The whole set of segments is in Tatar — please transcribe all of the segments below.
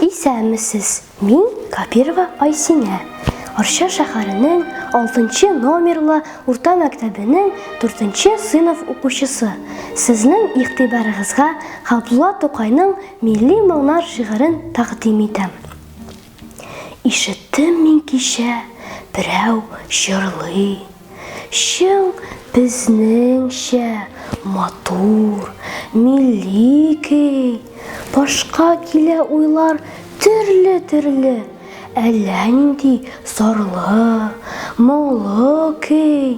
Исәнмесез, мин Капирова Айсинә. Арча шәһәренең 6 номерлы урта мәктәбенең 4 сыйныф укучысы. Сезнең игътибарыгызга Габдулла Тукайның Милли моңнар шигырен тәкъдим итәм. Ишеттем мин кичә, берәү җырлый. Чың безнеңчә матур, милли көй. Башка килә уйлар төрле-төрле. Әллә нинди зарлы, моңлы көй.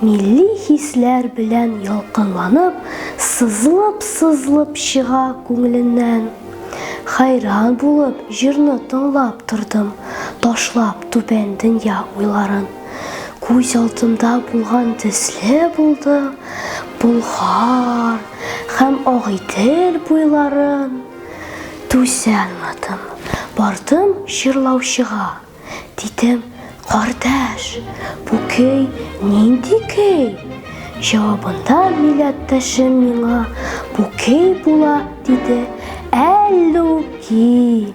Милли хисләр белән ялкынланып, сызлып-сызлып чыга күңеленнән. Хайран булып җырны тыңлап тордым, ташлап түбән дөнья уйларын. Күз алтында булган төсле булды, Болгар һәм Агыйдел буйларын. Түзә алмадым, бардым җырлаучыга. Дидем, кардәш, бу көй нинди көй? Җавабында милләттәшем миңа бу көй була, диде Әллүки.